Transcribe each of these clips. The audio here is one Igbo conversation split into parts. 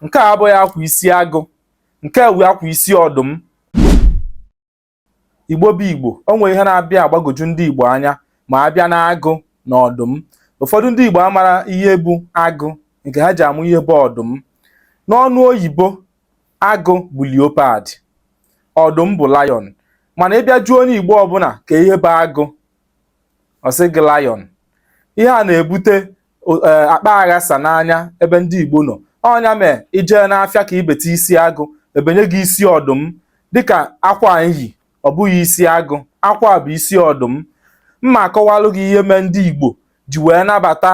nke a abụghị akwa isi agụ nke a wụ akwa isi ọdụm igbo bụ igbo o nwere ihe na-abịa agbagoju ndị igbo anya ma a bịa na agụ na ọdụm ụfọdụ ndị igbo amarọ ihe bụ agụ nke ha ji ama ihe bụ ọdụm n'ọnụ oyibo agụ bụ leopard ọdụm bụ lion mana ị bịa jụọ onye igbo ọbụla kee ihe bụ agụ ọ sị gị lion ihe a na-ebute e, akpa aghasa n'anya ebe ndị Igbo nọ ọ nya mee i jee n'afịa ka i beta isi agụ e benye gị isi ọdụm dịka akwa m yi ọ bụghị isi agụ akwa a bụ isi ọdụm m ma akọwalụ gị ihe mee ndị Igbo ji wee nabata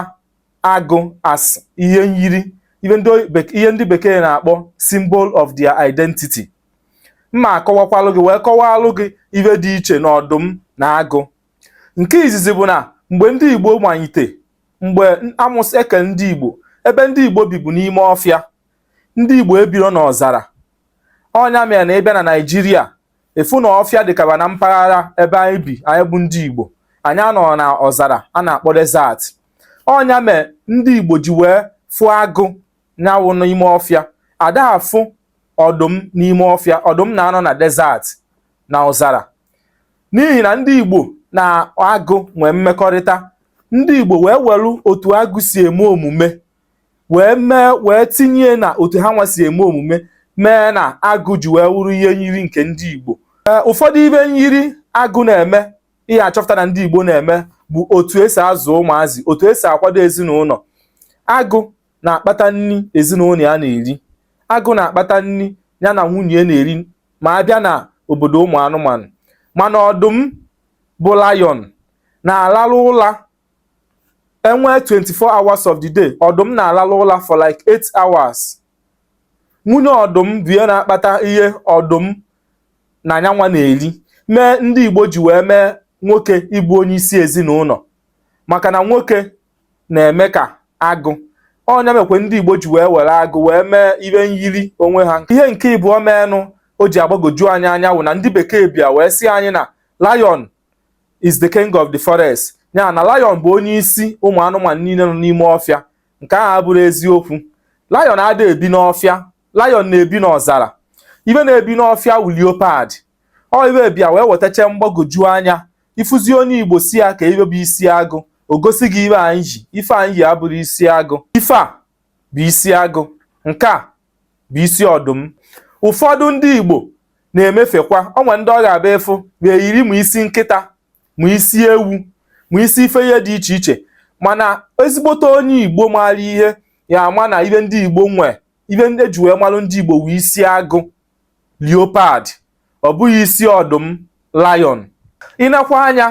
agụ as ihe nyiri ihe ndị bekee na-akpọ symbol of their identity m ma akọwakwalụ gị wee kọwalụ gị ihe dị iche na ọdụm na agụ nke izizi bụ na mgbe ndị Igbo manyite mgbe amụsị eke ndị Igbo ebe ndị Igbo bi bụ n'ime ọfịa ndị Igbo ebiro n'ọzara ọ nya mere na ị bịa na Naịjirịa ị fụ na ọfịa dịkaba na mpaghara ebe anyị bi anyị bụ ndị Igbo anyị anọrọ na ọzara a na-akpọ desert ọ nya mere ndị Igbo ji wee fụ agụ nya wụ n'ime ọfịa a da afụ ọdụm n'ime ọfịa ọdụm na-anọ na desert na ọzara n'ihi na ndị Igbo na agụ nwee mmekọrịta ndị Igbo wee welu otu agụ si eme omume wee mee wee tinye na otu hanwa si eme omume mee na agụ ji wee wụrụ ihe nyiri nke ndị Igbo eh, ụfọdụ ife nyiri agụ na-eme ị ya-achọpụta na ndị Igbo na-eme bụ otu e si azụ ụmụazị otu e si akwado ezinụlọ agụ na-akpata nni ezinụlọ ya na-eri agụ na-akpata nni nya na nwunye na-eri ma a bịa na obodo ụmụ anụmanụ mana ọdụm bụ lion na-alarụ ụla e nwee 24 hours of the day ọdụm na-alarụ ụla for like 8 hours nwunye ọdụm bụ ihe na-akpata ihe ọdụm na nyanwa na-eri mee ndị Igbo ji wee mee nwoke ịbụ onye isi ezinụlọ maka na nwoke na-eme ka agụ ọ nya mekwe ndị Igbo ji wee were agụ wee mee ihe nyiri onwe ha ihe nke ịbụọ meenụ o ji agbagoju anyị anya wụ na ndị bekee bịa wee sị anyị na lion is the king of the forest ya na lion bụ onye isi ụmụ anụmanụ niile nọ n'ime ọfịa nke ahụ abụrọ eziokwu lion ada ebi n'ọfịa lion na-ebi n'ọzara ife na-ebi n'ọfịa wụ leopard ọ ive bịa wee wetacha mgbagwoju anya ị fụzi onye igbo sị ya ka ive bụ isi agụ o gosi gị ive anyị yi ife anyị yi abụrọ isi agụ ife a bụ isi agụ nke a bụ isi ọdụm ụfọdụ ndị igbo na-emefekwa o nwe ndị ọ ga-abụ ị fụ va eyiri ma isi nkịta ma isi ewu ma isi ife ihe dị iche iche mana ezigbote onye igbo maara ihe ya ama na ive ndị igbo nwee ive ndị e ji wee malụ ndị igbo wụ isi agụ leopard ọ bụghị isi ọdụm lion i nekwa anya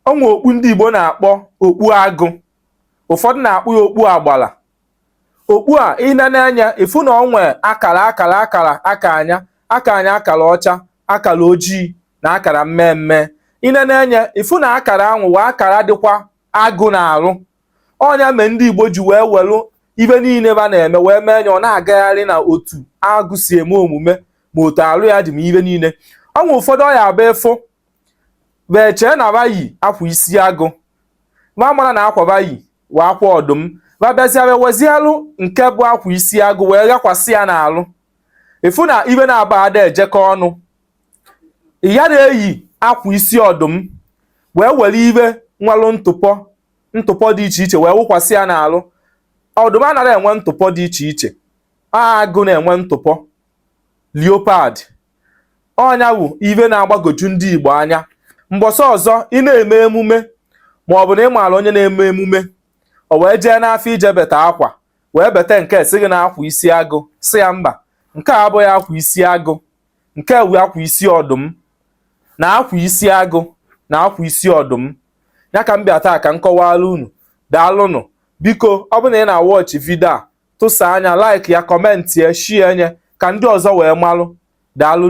o nwe okpu ndị Igbo na-akpọ okpu agụ ụfọdụ na-akpọ ya okpu agbala okpu a i nene anya ị fụ na o nwe akara akara akara aka anya aka anya akara ọcha akara ojii na akara mmee mmee i nene anya ị fụ na akara anwụ wa akara dịkwa agụ n'arụ ọ nya mee ndị Igbo ji wee welụ ive niile va na-eme wee mee anya ọ na-agagharị na otu agụ si eme omume ma otu alụ ya dị ma ive niile o nwe ụfọdụ ọ ya-abụ ị fụ va echee na va yi akwa isi agụ va amarọ na akwa va yi wụ akwa ọdụm va bịazịa wee wezielụ nke bụ akwa isi agụ wee ghakwasị ya n'alụ ị fụ na ive naabọ ada ejekọ ọnụ ya na-eyi akwa isi ọdụm wee were ive nwelụ ntụpọ ntụpọ dị iche iche wee wụkwasị ya n'alụ ọdụm anarọ enwe ntụpọ dị iche iche agụ na-enwe ntụpọ leopard ọ nya wụ ive na-agbagoju ndị Igbo anya mbọsị ọzọ ị na-eme emume ma ọ bụ na ị maara onye na-eme emume o wee jee n'afọ ije beta akwa wee beta nke sị gị na akwa isi agụ sị ya mba nke a abụghị akwa isi agụ nke wụ akwa isi ọdụm na akwa isi agụ na akwa isi ọdụm ya ka m bịa taa ka m kọwara unu daalụnụ biko ọ bụ na ị na-awatch video a tụsaa nya like ya comment ya share nya ka ndị ọzọ wee malụ daalụ